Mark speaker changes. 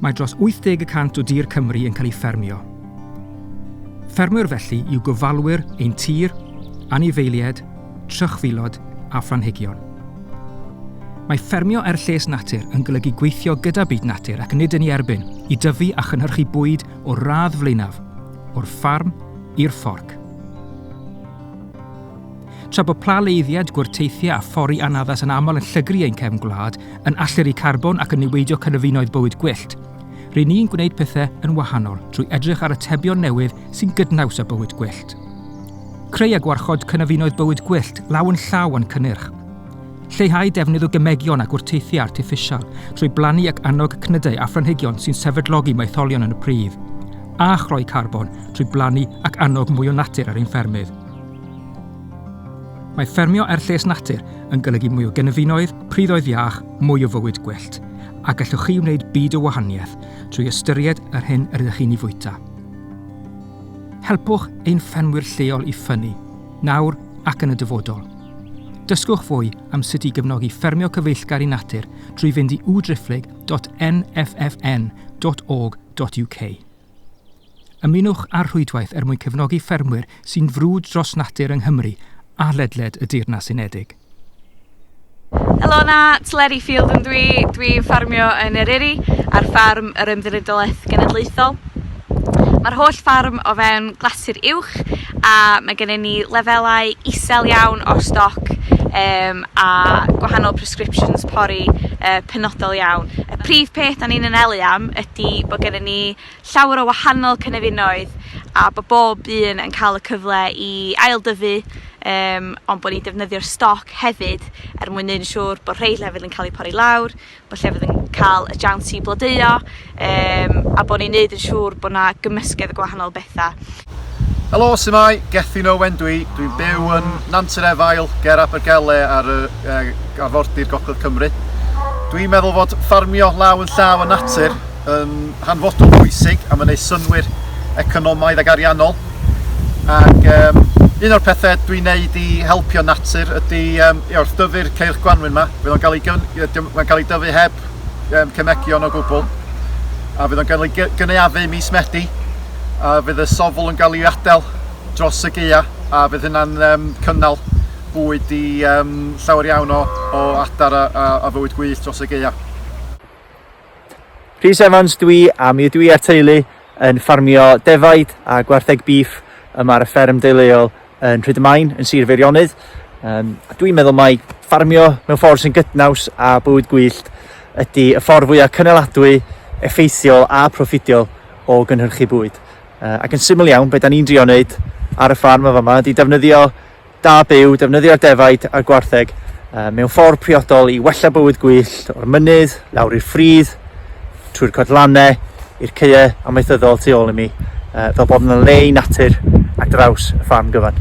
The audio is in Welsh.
Speaker 1: Mae dros 80 y cant o dir Cymru yn cael ei ffermio. Ffermwyr felly yw gofalwyr ein tir, anifeiliaid, trychfilod a phlanhigion. Mae ffermio er lles natur yn golygu gweithio gyda byd natur ac nid yn ei erbyn, i dyfu a chynhyrchu bwyd o'r radd flaenaf, o'r ffarm i'r fforc. Tra bod pla leiddiad, gwrteithiau a phori anaddas yn aml yn llygru ein cefn gwlad, yn alltyru carbon ac yn niweidio cynefinoedd bywyd gwyllt, rŷn ni'n gwneud pethau yn wahanol trwy edrych ar atebion newydd sy'n gydnaws â bywyd gwyllt. Creu a gwarchod cynefinoedd bywyd gwyllt law yn llaw â'n cynnyrch. Lleihau defnydd o gemegion a gwrteithiau artiffisial trwy blannu ac annog cnydau a phlanhigion sy'n sefydlogi maetholion yn y pridd. A chroi carbon trwy blannu ac annog mwy o natur ar ein ffermydd. Mae ffermio er lles natur yn golygu mwy o gynefinoedd, priddoedd iach, mwy o fywyd gwyllt, a gallwch chi wneud byd o wahaniaeth trwy ystyried yr hyn yr ydych chi'n ei fwyta. Helpwch ein ffermwyr lleol i ffynnu, nawr ac yn y dyfodol. Dysgwch fwy am sut i gefnogi ffermio cyfeillgar i natur trwy fynd i www.driphlyg.nffn.org.uk. Ymunwch â'r rhwydwaith er mwyn cefnogi ffermwyr sy'n frwd dros natur yng Nghymru a ledled y Deyrnas Unedig.
Speaker 2: Helo 'na, Tleri Field yn dwi, dwi'n ffarmio yn Eryri ar ffarm yr Ymddiriedolaeth Genedlaethol. Mae'r holl ffarm o fewn glasur uwch A mae gennym ni lefelau isel iawn o stoc um, a gwahanol prescriptions pori uh, penodol iawn. Y prif peth da ni'n anelu am ydy bod gennym ni llawer o wahanol cynefinoedd a bod bob un yn cael y cyfle i aildyfu um, ond bod ni'n defnyddio'r stoc hefyd er mwyn neud yn siŵr bod rhai lefydd yn cael eu pori lawr, bo' lle fydd yn ca'l y jiawns i blodeuo yym a bo' ni'n neud yn siŵr bo' 'na gymysgedd o gwahanol betha. Helo,
Speaker 3: su'mai? Gethin Owen dwi, dwi'n byw yn Nant yr Efail ger Abergele ar y uh, arfordir gogledd Cymru. Dwi'n meddwl fod ffarmio law yn llaw y natur yn hanfodol bwysig am wneud synwyr economaidd ac ariannol ac um, un o'r pethau dwi'n neud i helpio natur ydy um, i wrth dyfu'r ceirch gwanwyn yma. Fydd o'n cael ei, cael ei dyfu heb um, cemegion o gwbl a fydd o'n cael ei gynaeafu mis Medi a fydd y sofl yn cael ei adael dros y geia a fydd hynna'n um, cynnal bwyd i um, llawer iawn o, o adar a, a, a fywyd gwyllt dros y geia.
Speaker 4: Rhys Evans dwi a mi ydw i a'r teulu yn ffarmio defaid a gwartheg bîff yma ar y fferm deuluol yn Rhydymain yn Sir Feirionydd. Um, dwi'n meddwl mai ffarmio mewn ffordd sy'n gydnaws a bywyd gwyllt ydy y ffordd fwyaf cynaladwy, effeithiol a proffidiol o gynhyrchu bwyd. Uh, ac yn syml iawn, beth da ni'n drio wneud ar y ffarm o fama ydy defnyddio da byw, defnyddio'r defaid a'r gwartheg mewn ffordd priodol i wella bywyd gwyllt o'r mynydd, lawr i'r ffridd, trwy'r codlannau, i'r caeau amaethyddol tu ôl i mi, fel bod yn le i natur ar draws y ffarm gyfan.